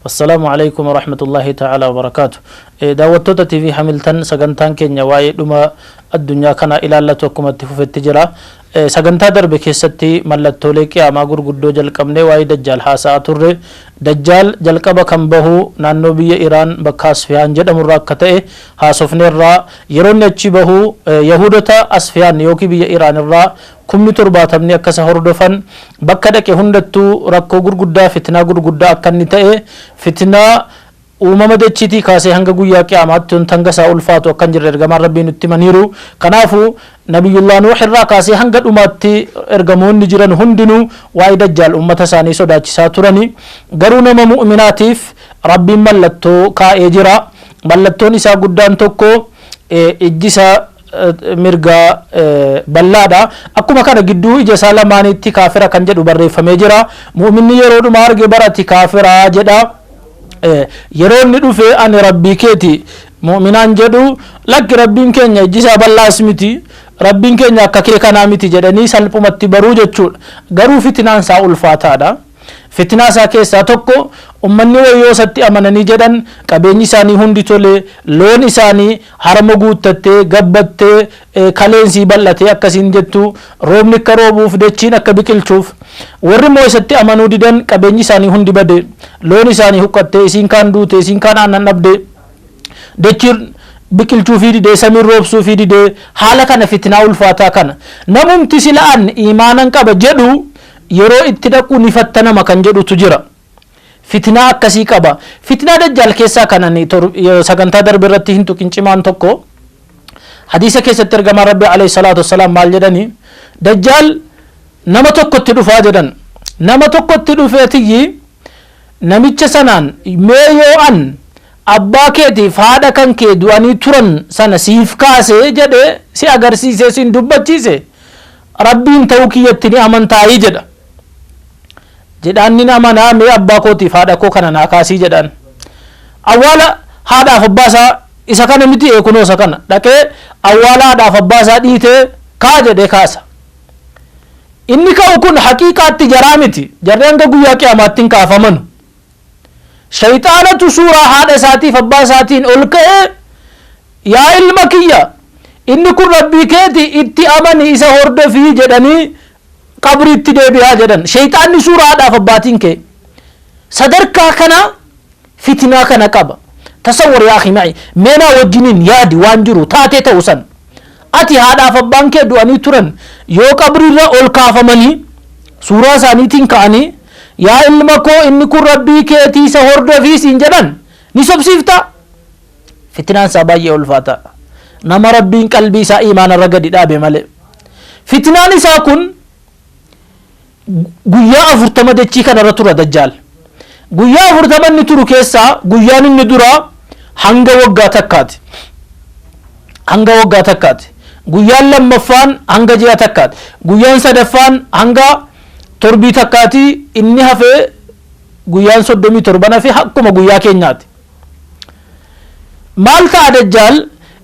Assalaamu Aleykum Warahmatullaahi Ta'aalaa Wabarakaatu. Daawwattoota TV Hamiltan sagantaan keenya waa'ee dhuma addunyaa kanaa ilaallatu akkuma itti fufetti jira. Sagantaa darbe keessatti mallattoolee Qiyaamaa gurguddoo jalqabnee waa'ee Dajjaal haasa'aa turre. Dajjaal jalqaba kan bahu naannoo biyya Iraan bakka Asfiyaan jedhamu irraa akka ta'e haasofneerra. Yeroo inni achii bahu Yahuudota Asfiyaan yookiin biyya Iraan irraa kumni torbaatamni akka isa hordofan, bakka dhaqe hundattuu rakkoo gurguddaa, fitnaa gurguddaa akka inni ta'e, fitnaa uumama dachiitii kaasee hanga guyyaa qiyaamaatti wanta hanga isaa ulfaatu akka hin jirre Ergamaan Rabbii nutti himaniiru. Kanaafu, Nabiyyullah Nuuh irraa kaasee hanga dhumaatti Ergamoonni jiran hundinuu waa'ee Dajjaal ummata isaanii sodaachisaa turani. Garuu nama mu'minaatiif Rabbiin mallattoo kaa'ee jira. Mallattoon isaa guddaan tokko ijji isaa. mirgaa bal'aa dha. Akkuma kana gidduu ija isaa lamaaniitti kaafira kan jedhu barreeffamee jira. Mu'minni yeroo dhuma arge bar ati kaafira jedha. Yeroo inni dhufe ani Rabbii keeti mu'minaan jedhu lakki Rabbiin keenya ijji isaa bal'aas miti. Rabbiin keenya akka kee kanaa miti jedhanii salphumatti baruu jechuudha. Garuu fitinaan isaa ulfaataa dha. Fitnaa isaa keessaa tokko ummanni wayoo isatti amananii jedhan qabeenyi isaanii hundi tole, loon isaanii harama guuttattee, gabbattee, kaleen isii bal'atee akka isiin jettu, roobni akka roobuuf, dachiin akka biqilchuuf. Warri immoo isatti amanuu didan qabeenyi isaanii hundi bade. Loon isaanii huqqattee, isiin kaan duute, isiin kaan aannan dhabde. Dachiin biqilchuufii dide, samiin roobsuufii dide. Haala kana fitnaa ulfaataa kana. Namumti sila an iimaanan qaba jedhu Yeroo itti dhaqu ni fattanama kan jedhutu jira. Fitnaa akkasii qaba. Fitnaa Dajjaal keessaa kan ani sagantaa darbe irratti hin tuqin cimaan tokko hadiisa keessatti ergamaan Rabbii alayhi salaatu wassalaam maal jedhani Dajjaal nama tokkotti dhufaa jedhan. Nama tokkotti dhufee tiyyi namicha sanaan mee yoo an abbaa keetiif haadha kan kee du'anii turan sana siif kaase jedhe si agarsiise siin dubbachiise Rabbiin ta'uu kiyyatti ni amantaayi? jedha. Jedhaan nin amana, mee abbaa kootiif haadha koo kana naa kaasii jedhaan. Awwaala haadhaaf abbaa isaa isa kana miti ee kunoo isa kana. Dhaqee awwaala haadhaaf abbaa isaa dhiitee kaa jedhee kaasa. Inni ka'u kun haqiiqaatti jaraa miti. Jarri hanga guyyaa qiyaamaatti hin kaafamanu. Shayxaanatu suuraa haadha isaatiif abbaa isaatiin ol ka'ee, Yaa ilma kiyya! Inni kun Rabbii keeti, itti amani, isa hordofi jedhanii qabriitti deebi'aa jedhan. Shayxaanni suuraa haadhaaf abbaatiin ka'e. Sadarkaa kana fitnaa kana qaba. Tasawwar yaa akhi ma'i. Mee naa wajjiniin yaadi waan jiru, taatee ta'u san. Ati, haadhaa fi abbaan kee du'anii turan yoo qabriirra ol kaafamanii suuraa isaaniitiin ka'anii, Yaa ilma koo inni kun Rabbii keetii isa hordofi siin jedhan ni sobsiiftaa? Fitnaan isaa baay'ee ulfaataa dha. Nama Rabbiin qalbii isaa iimaana irra gadi dhaabe malee. Fitnaan isaa kun Guyyaa afurtama dachii kana irra tura Dajjaal. Guyyaa afurtama inni turu keessaa guyyaan inni duraa hanga waggaa takkaati. Hanga waggaa takkaati. Guyyaan lammaffaan hanga ji'a takkaati. Guyyaan sadaffaan hanga torbii takkaati. Inni hafee guyyaan soddomii torban hafee akkuma guyyaa keenyaati. Maal ta'a Dajjaal?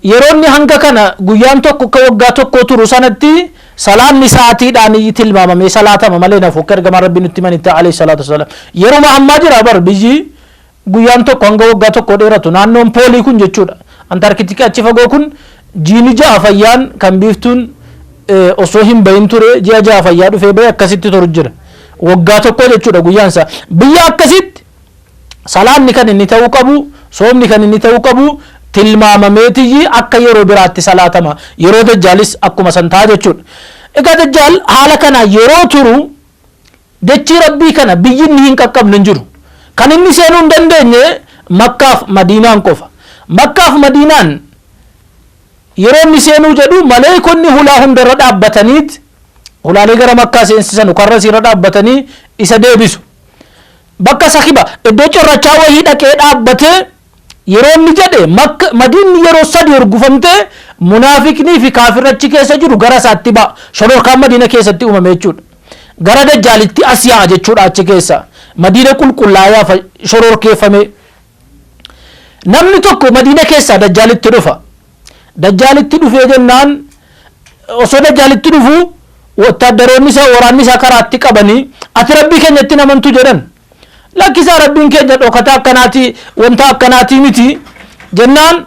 Yeroo inni hanga kana guyyaan tokko akka waggaa tokkoo turu sanatti salaanni sa'aatiidhaan tilmaamamee salaatama malee hin hafu akka ergamaan Rabbii nutti himanitti alayhi salaatu wassalaam. Yeruma ammaa jira bar biyyi guyyaan tokko hanga waggaa tokkoo dheeratu naannoon poolii kun jechuudha. Antaarkitikii achi fagoo kun jiini ja'a fayyaan kan biiftuun osoo hin bahin ture ji'a ja'a fayyaa dhufee bahe akkasitti turu jira. Waggaa tokkoo jechuudha guyyaan isaa. Biyya akkasitti Salaanni kan inni ta'uu qabu, soomni kan inni ta'uu qabu tilmaamameetiyyi akka yeroo biraatti salaatama. Yeroo Dajjaalis akkuma san ta'a jechuudha. Egaa Dajjaal haala kanaan yeroo turu dachii Rabbii kana biyyi inni hin qaqqabne hin jiru. Kan inni seenuu hin dandeenye Makkaaf Madiinaan qofa. Makkaaf Madiinaan yeroo inni seenuu jedhu maleeykonni hulaa hundarra dhaabbataniit hulaalee gara Makkaa seensisanu karra isiirra dhaabbatanii isa deebisu. Bakka sakiba, iddoo corrachaa wayii dhaqee dhaabbatee yeroo inni jedhe Makk, Madiinni yeroo sadi hurgufamtee munaafiqnii fi kaafirri achi keessa jiru gara isaatti ba'a. Shororkaan Madiina keessatti uumame jechuudha. Gara Dajjaalitti as yaa'a jechuudha achi keessaa. Madiina qulqullaayaa fa shororkeeffamee. Namni tokko Madiina keessaa Dajjaalitti dhufa. Dajjaalitti dhufee jennaan osoo Dajjaalitti dhufu wottaaddaroonni isaa waraanni isaa karaatti qabanii ati Rabbii keenyatti namantu jedhan. Lakkisaa Rabbiin keenya dhokataa akkanaatii wanta akkanaatii miti jennaan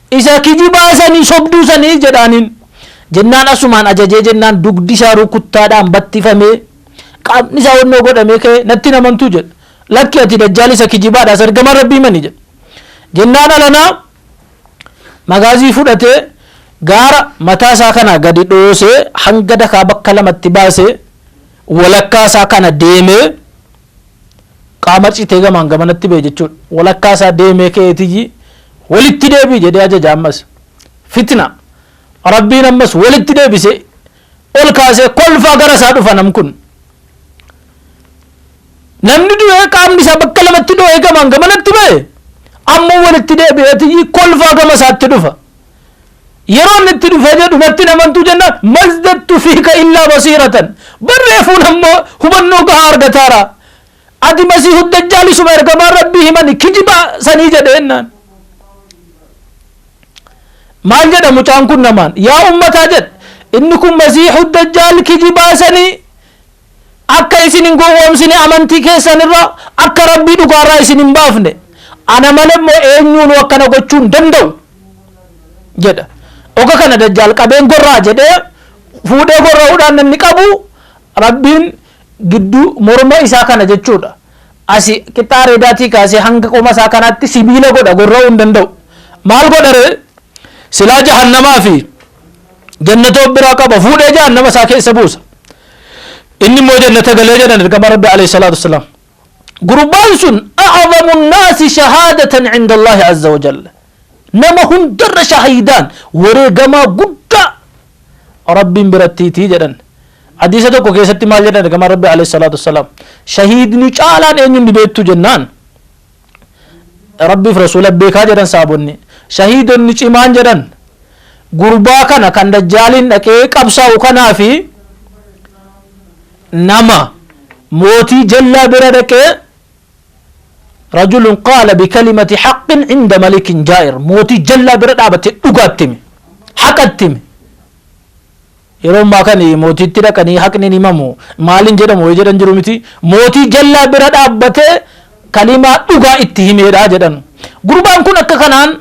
Isa kijibaa sanii sobduu sanii jedhaaniin jennaan asumaan ajajee jennaan dugdi isaa rukuttaadhaan battifamee qaamni isaa wannoo godhamee ka'ee natti hin amantuu jedhe lakki ati dajjaal isa kijibaadhaas ergamaan rabbii mani jedhe jennaan alanaa magaazii fudhatee gaara mataa isaa kanaa gadi dhoosee hanga dakaa bakka lamatti baasee walakkaa isaa kana deemee Qaama citee gamaan gamanatti ba'e jechuudha. Walakkaa isaa deemee ka'eetiyyi walitti deebi'i jedhee ajaja ammas. Fitna. Rabbiin ammas walitti deebisee ol kaasee kolfaa gara isaa dhufa nam kun. Namni du'ee qaamni isaa bakka lamatti dho'ee gamaan gamanatti ba'e ammoo walitti deebi'eetiyyi kolfaa gama isaatti dhufa. Yeroo inni itti dhufee jedhu natti hin amantuu jennaan mazdattu fiika illaa basiiratan. Bar reefuun ammoo hubannoo gahaa argataara. Ati masiihu dajjaal isuma ergamaan rabbii himani kijiba sanii jedhe jennaan. Maal jedha mucaan kun namaan yaa ummataa jedhe inni kun masiihu dajjaal kijibaa sanii akka isin hin gowwoomsine amantii keessan irraa akka Rabbii dhugaa irraa isin hin baafne ana malee immoo eenyuunuu akkana gochuu hin danda'u jedha oga kana dajjaal qabeen gorra'a jedhee fuudhee gorra'uudhaan namni qabu Rabbiin gidduu morma isaa kana jechuudha asi qixxaa reedaatii kaasee hanga qoma isaa kanaatti sibiila godha gorra'uu hin danda'u maal godha ree silaa jahannamaa fi Jannata of biraa qaba, fuudhee jahannama isaa keessa buusa. Inni immoo jannata galee jedhan ergamaa Rabbi alayhi salaatu wassalaam. Gurbaan sun a'azamu naasi shahaadatan cinda Allaahi azza wa jalla. Nama hundarra shahiidaan wareegamaa guddaa Rabbiin birattiitii jedhan. Hadiisa tokko keessatti maal jedhan ergamaa Rabbi alayhi salaatu wassalaam. Shahiidni caalaan eenyuun ni beektu jennaan. Rabbiif Rasuula beekaa jedhan sahaabonni. Shahiidonni cimaan jedhan gurbaa kana kan dajjaaliin dhaqee qabsaa'u kanaa fi nama mootii jallaa bira dhaqee rajulun qaala bikalimati haqqin inda malikin jaa'ir mootii jallaa bira dhaabate dhugaattimi haqattimi Yeroo ammaa kan mootiitti dhaqanii haqni hin himamu maal hin jedhamu wayi jedhan jiru miti. Mootii jallaa bira dhaabbatee kalimaa dhugaa itti himeedha jedhan. Gurbaan kun akka kanaan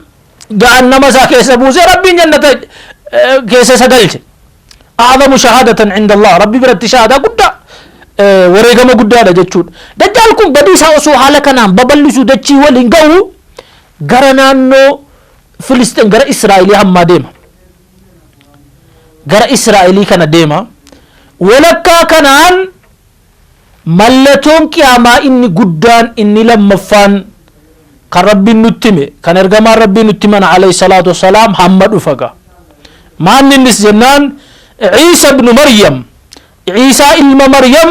jahannama isaa keessa buusee Rabbiin jannata keessa isa galche. A'azamu shahaadatan inda Allah Rabbi biratti shahaadaa guddaa wareegama guddaadha jechuudha. Dajjaal kun badii isaa osoo haala kanaan babal'isu dachii waliin ga'u gara naannoo Filisxeen gara Israa'elii hammaa deema. gara Israa'elii kana deema. Walakkaa kanaan mallatoon qiyaamaa inni guddaan inni lammaffaan kan Rabbiin nutti hime kan ergamaan Rabbii nutti himan alayhi salaatu wassalaam hamma dhufaga. Maanni innis jennaan Ciisa ibnu Maryam Ciisaa ilma Maryam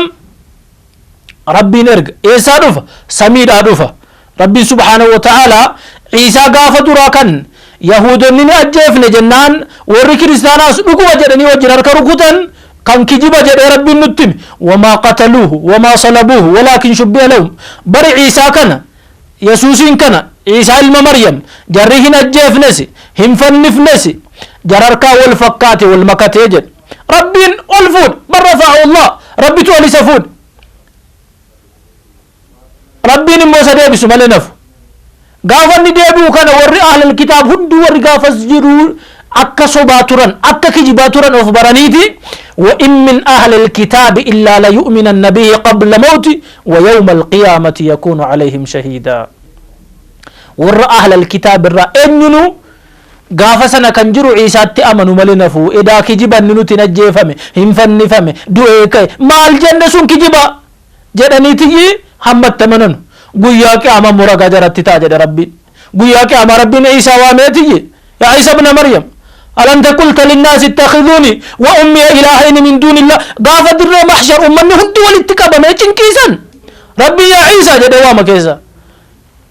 Rabbiin erga. Eessaa dhufa? Samiidhaa dhufa. Rabbiin subhaanahu wa ta'aalaa Iisaa gaafa duraa kan Yahuudonni ni ajjeefne jennaan warri kiristaanaas dhuguma jedhanii wajjin harka rukutan kan kijiba jedhee Rabbiin nutti hime. Wamaa qataluuhu wamaa salabuuhu walaakin shubbiha lahum. Bari Iisaa kana Yesuusiin kana Iisaa ilma Maryam jarri hin ajjeefnesi hin fannifnesi jararkaa wal fakkaate wal makatee jedhe. Rabbiin ol fuudhe. Bal rafa'ahu Allaah. Rabbitu ol isa fuudhe. Rabbiin immoo isa deebisu malee hin hafu. Gaafa inni deebi'u kana warri ahlal kitaab hunduu warri gaafas jiru akka sobaa turan, akka kijibaa turan of baraniiti. Wa in min ahlil kitaabi illaa layu'minanna bihi qabla mawti wa yawma alqiyaamati yakuunu alayhim shahiidaa. Warra ahlal kitaab irraa eenyunuu Gaafa sana kan jiru Iisaatti amanu malee hin hafu. Edaa kijiba inni nutiin ajjeefame, hin fannifame, du'ee ka'e, maal jenne sun kijiba! jedhaniitiyyi hamma itti amananu. Guyyaa Qiyaamaa immoo ragaa jaratti ta'a jedhe Rabbiin. Guyyaa Qiyaamaa Rabbiin Iisaa waameetiyyi, Yaa Iisa ibna Maryam! Alanta qulta linnaasi ittakhizuuni wa ummiya ilaahayni min duunillaah. Gaafa dirree mahshar ummanni hundi walitti qabamee cinqii san Rabbiin Yaa Iisaa jedhee waama keessa.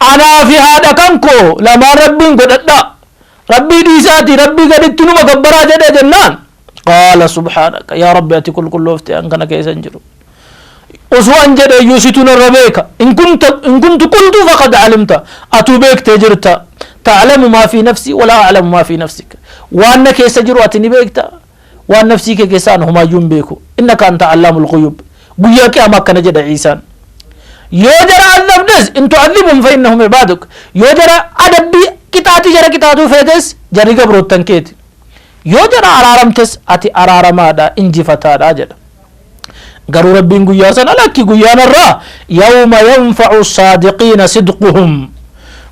Anaa fi haadha kan koo lamaan Rabbiin godhadhaa. Rabbii dhiisaatii Rabbii gaditti numa gabbaraa jedhee jennaan. Qaala subhaanaka yaa Rabbi ati qulqulloofte an kana keessa hin jiru. Osoo an jedhe iyyuu situ narra beeka. In kunta in kuntu qultu faqad alimta. Atuu beektee jirta. Ta'lamu maa fi nafsii walaa a'lamu maa fi nafsik. Waan na keessa jiru ati ni beekta. Waan nafsii kee keessaa an homaayyuu hin beeku. Innaka anta Allaamul Ghuyuub. Guyyaa Qiyaamaa akkana jedha Iisaan. Yoo jara azabdes, in tu'adhibhum fa innahum ibaaduk. Yoo jara adabbii, qixaaxii jara qixaaxuu feetes, jarri gabroottan keeti. Yoo jara araaramtes, ati araaramaadha, injifataadha jedha. Garuu Rabbiin guyyaa sana lakki guyyaa narraa yawma yanfa'u saadiqiina sidquhum.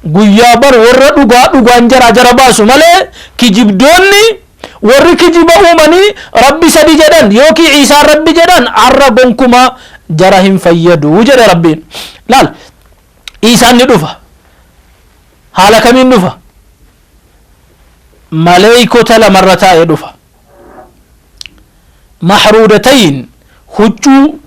Guyyaa bar warra dhugaa dhugaan jaraa jara baasu malee kijibdoonni Warri kijiba uumanii Rabbi sadi jedhan yookii Iisaan Rabbi jedhan har'a gonkumaa jara hin fayyadu jedhe Rabbiin. Laal Iisaan ni dhufa. Haala kamiin dhufa? Maleeykota lamarra taa'ee dhufa. mahruudatayn, huccuu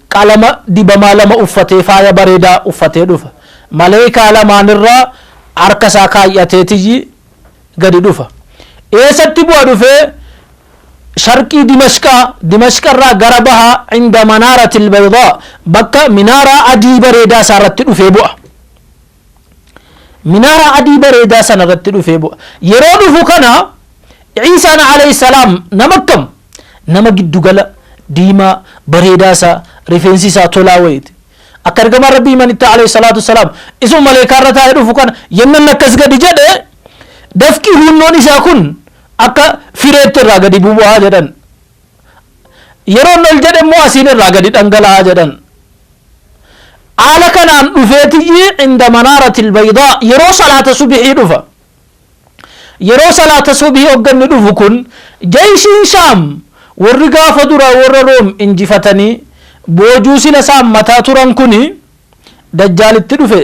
qalama dibamaa lama uffatee faaya bareedaa uffatee dhufa. Maleeykaa lamaan irra harka isaa kaay'ateetiyyi gadi dhufa. Eessatti bu'a dhufee? Sharqii Dimashqaa, Dimashqa irraa gara bahaa inda manaaratil baydaa, bakka minaaraa adii bareedaa isaa irratti dhufee bu'a. Minaaraa adii bareedaa sana irratti dhufee bu'a. Yeroo dhufu kana Ciisaan alayhi salaam nama akkam? Nama giddu gala, diimaa, bareedaa isaa, rifeensi isaa tolaa wayiiti. Akka ergamaan Rabbii himanitti alayhi salaatu salaam isuma maleekaa irra taa'ee dhufu kana yennan akkas gadi jedhe dafqi huunnoon isaa kun akka fireetti irraa gadi bubu'aa jedhan. Yeroo inni ol jedhe immoo asiin irraa gadi dhangala'a jedhan. Haala kanaan dhufeetiyyi inda manaaratil baydaa yeroo salaata subihii dhufa. Yeroo salaata subihii hogga inni dhufu kun jeyshiin Shaam warri gaafa duraa warra Room injifatanii boojuu sila isaan mataa turan kuni Dajjaal itti dhufe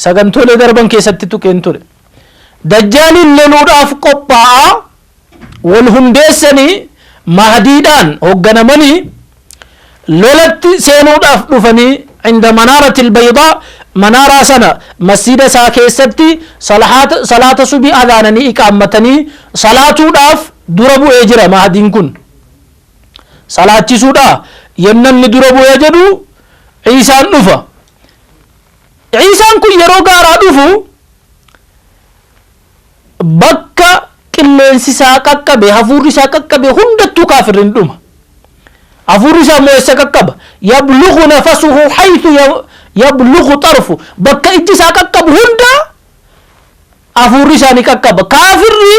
sagantoolee darban keessatti tuqeen ture. Dajjaaliin loluudhaaf qophaa'aa wal hundeessanii Mahdiidhaan hogganamanii lolatti seenuudhaaf dhufanii inda manaaratil baydaa manaaraa sana masjiida isaa keessatti salaata salaata subii adhaananii iqaammatanii salaatuudhaaf dura bu'ee jira Mahdiin kun salaachisuudha yenna inni dura bu'ee jedhu Ciisaan dhufa Ciisaan kun yeroo gaaraa dhufu Bakka qilleensi isaa qaqqabe, hafuurri isaa qaqqabe hundattuu kaafirri ni dhuma. Hafuurri isaa immoo eessa qaqqaba? Yablughu nafasuhu haythu ya- yablughu xarfu. Bakka ijji isaa qaqqabu hunda hafuurri isaa ni qaqqaba. Kaafirri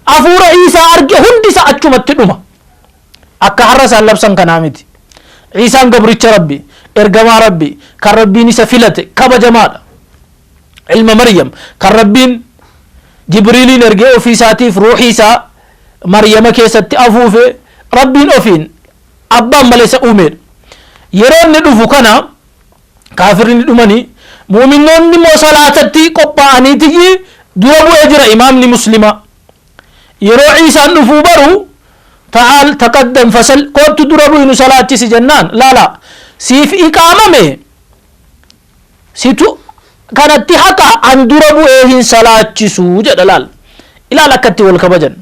hafuura Iisaa arge hundi isaa achumatti dhuma. Akka har'a isaan labsan kanaa miti. Iisaan gabricha Rabbi, ergamaa Rabbi, kan Rabbiin isa filate, kabajamaadha. ilma Maryam kan Rabbiin Jibriiliin ergee ofii isaatiif ruuxii isaa Maryama keessatti afuufe Rabbiin ofiin abbaan malee isa uumeedha. Yeroo inni dhufu kana kaafirri ni dhumanii mu'minnoonni immoo salaatatti qophaa'aniitiyyi dura bu'ee jira imaamni muslimaa. Yeroo Ciisaan dhufuu baru ta'aal taqaddam fasal koottu dura bu'inu salaachisi jennaan laala siif iqaamame Situ kanatti haqa an dura bu'ee hin salaachisu jedha laal ilaal akka itti wal kabajan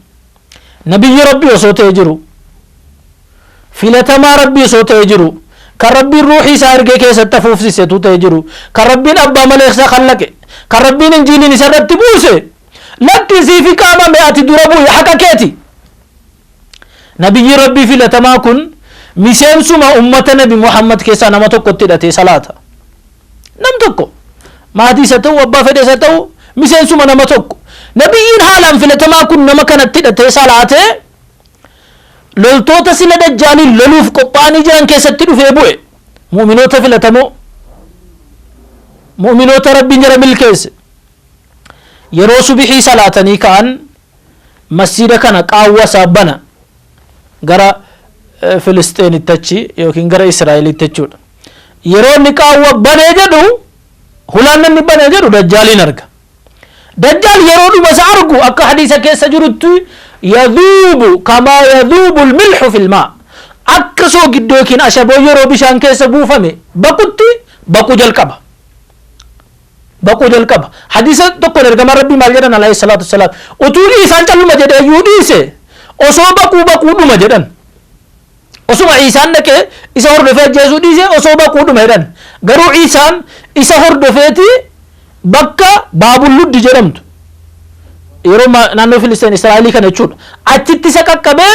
nabiyyi rabbii osoo ta'e jiru filatamaa rabbii osoo ta'e jiru kan rabbiin ruuxii isaa ergee keessatti afuufsise tu ta'e jiru kan rabbiin abbaa maleeksa kallaqe kan rabbiin injiiliin isarratti buuse lakki siifi qaamame ati dura bu'i haqa keeti Nabiyyiin Rabbii filatamaa kun miseensuma ummata Nabi Muhammad keessaa nama tokkotti hidhatee salaata. Nam tokko maatii isa ta'u abbaa fedhe isa ta'u miseensuma nama tokko. Nabiyyiin haalaan filatamaa kun nama kanatti hidhatee salaatee loltoota sila dajjaaliin loluuf qophaa'anii jiran keessatti dhufee bu'e. Mu'minoota filatamoo mu'minoota Rabbiin jara milkeesse. Yeroo subihii salaatanii ka'an Masjiida kana qaawwa isaa bana gara Filisxeenitti achi yookiin gara Israa'elitti jechuudha. Yeroo inni qaawwa banee jedhu hulaan inni banee jedhu dajjaaliin arga. Dajjaal yeroo dhuma isa argu akka hadiisa keessa jirutti yadhuubu kamaa yadhuubu milxu filmaa akka soogiddoo yookiin ashaboo yeroo bishaan keessa buufame baqutti baquu jalqaba. baquu jalqaba. Hadiisa tokkoon ergamaan Rabbii maal jedhan alayhi salaatu wassalaam utuu Iisaan calluma jedhee iyyuu dhiise osoo baquu baquu dhuma jedhan. Osuma Iisaan dhaqee isa hordofee ajjeesuu dhiise osoo baquu dhuma jedhan. Garuu Iisaan isa hordofeeti bakka Baabul Luddi jedhamtu yeroo ma- naannoo Filisteen Israa'elii kana jechuudha. Achitti isa qaqqabee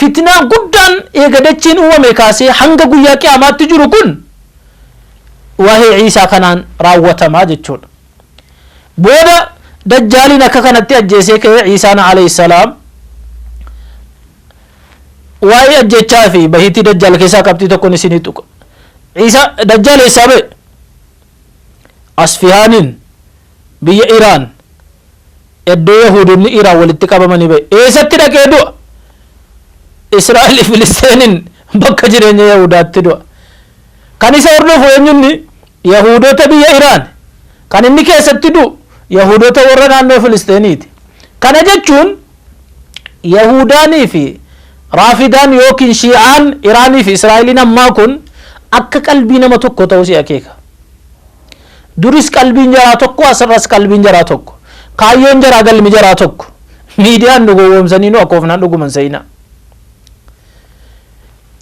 Fitnaa guddaan eega dachiin uumamee kaasee hanga guyyaa qiyaamaatti jiru kun waa'ee Iisaa kanaan raawwatama jechuudha. Booda dajjaaliin akka kanatti ajjeesee ka'ee Iisaan alayhissalaam waa'ee ajjechaa fi bahiitii dajjaal keessaa qabxii tokkon isinii tuqa. Iisa dajjaal eessaa ba'e? Asfihaaniin Biyya Iraan eddoo Yahuudonni Iraan walitti qabamanii bahe eesatti dhaqee du'a? Israa'elii Filisteeniin bakka jireenya Yahuudaatti du'a. Kan isa hordofu eenyu inni? Yahuudota biyya Iraan. Kan inni keessatti du'u Yahuudota warra naannoo Filisteeniiti. Kana jechuun Yahuudaanii fi Raafidaan yookiin Shii'aan Iraanii fi Israa'eliin ammaa kun akka qalbii nama tokkoo ta'uu si akeeka. Duris qalbiin jaraa tokko asirras qalbiin jaraa tokko. Kaayyoon jaraa galmi jaraa tokko. Miidiyaan nu gowwoomsanii nu akoofnaan dhuguman seenaa.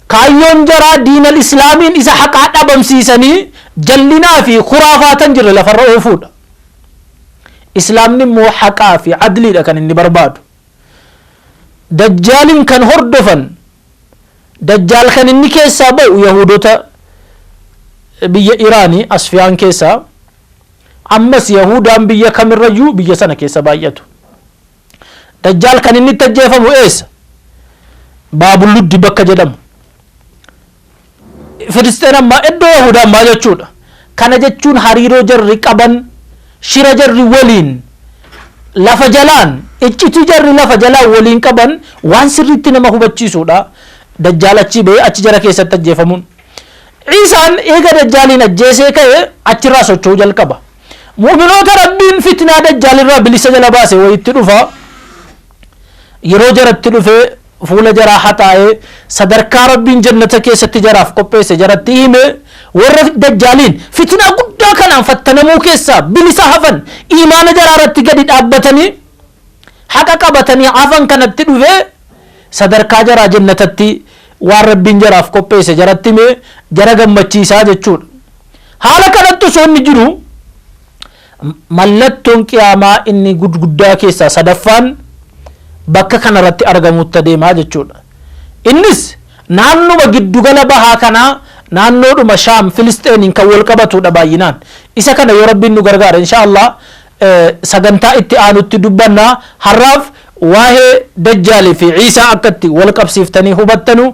Kaayyoon jaraa diinal islaamiin isa haqaa dhabamsiisanii jallinaa fi kuraafaatan jirre lafarra oofuudha. Islaamni immoo haqaa fi adliidha kan inni barbaadu. Dajjaalin kan hordofan, Dajjaal kan inni keessaa ba'u Yahuudota biyya Iraani, Asfiyaan keessaa, ammas Yahuudaan biyya kamirrayyuu biyya sana keessa baay'atu. Dajjaal kan inni itti ajjeefamu eessa? Baabul-Luddi bakka jedhamu. Filisxeen ammaa iddoo Yahuudaa ammaa jechuudha. Kana jechuun hariiroo jarri qaban shira jarri waliin lafa jalaan iccitii jarri lafa jalaan waliin qaban waan sirriitti nama hubachiisuudha. Dajjaal achii ba'ee achi jara keessatti ajjeefamuun. Ciisaan eega dajjaaliin ajjeesee ka'e achirraa socho'uu jalqaba. Mu'uminoota Rabbiin fitnaa dajjaalirraa bilisa jala baase wayitti dhufa. Yeroo jaratti dhufee fuula jaraa haxaa'ee sadarkaa Rabbiin jannata keessatti jaraaf qopheesse jaratti hime warra dajjaaliin fitinaa guddaa kanaan fattanamuu keessaa bilisa hafan iimaana jaraa irratti gadi dhaabbatanii haqa qabatanii hafan kanatti dhufee sadarkaa jaraa jannatatti waan Rabbiin jaraaf qopheesse jaratti hime jara gammachiisaa jechuudha. Haala kanatti osoo inni jiru Mallattoon Qiyaamaa inni gudguddaa keessaa sadaffaan bakka kana irratti argamuutti adeema jechuudha. Innis naannuma giddugala bahaa kanaa naannoodhuma Shaam Filisxeeniin kan wal qabatuudha baay'inaan. Isa kana yoo Rabbiin nu gargaare inshaa Allah sagantaa itti aanutti dubbanna. Har'aaf waa'ee Dajjaalii fi Ciisaa akka itti wal qabsiiftanii hubattanu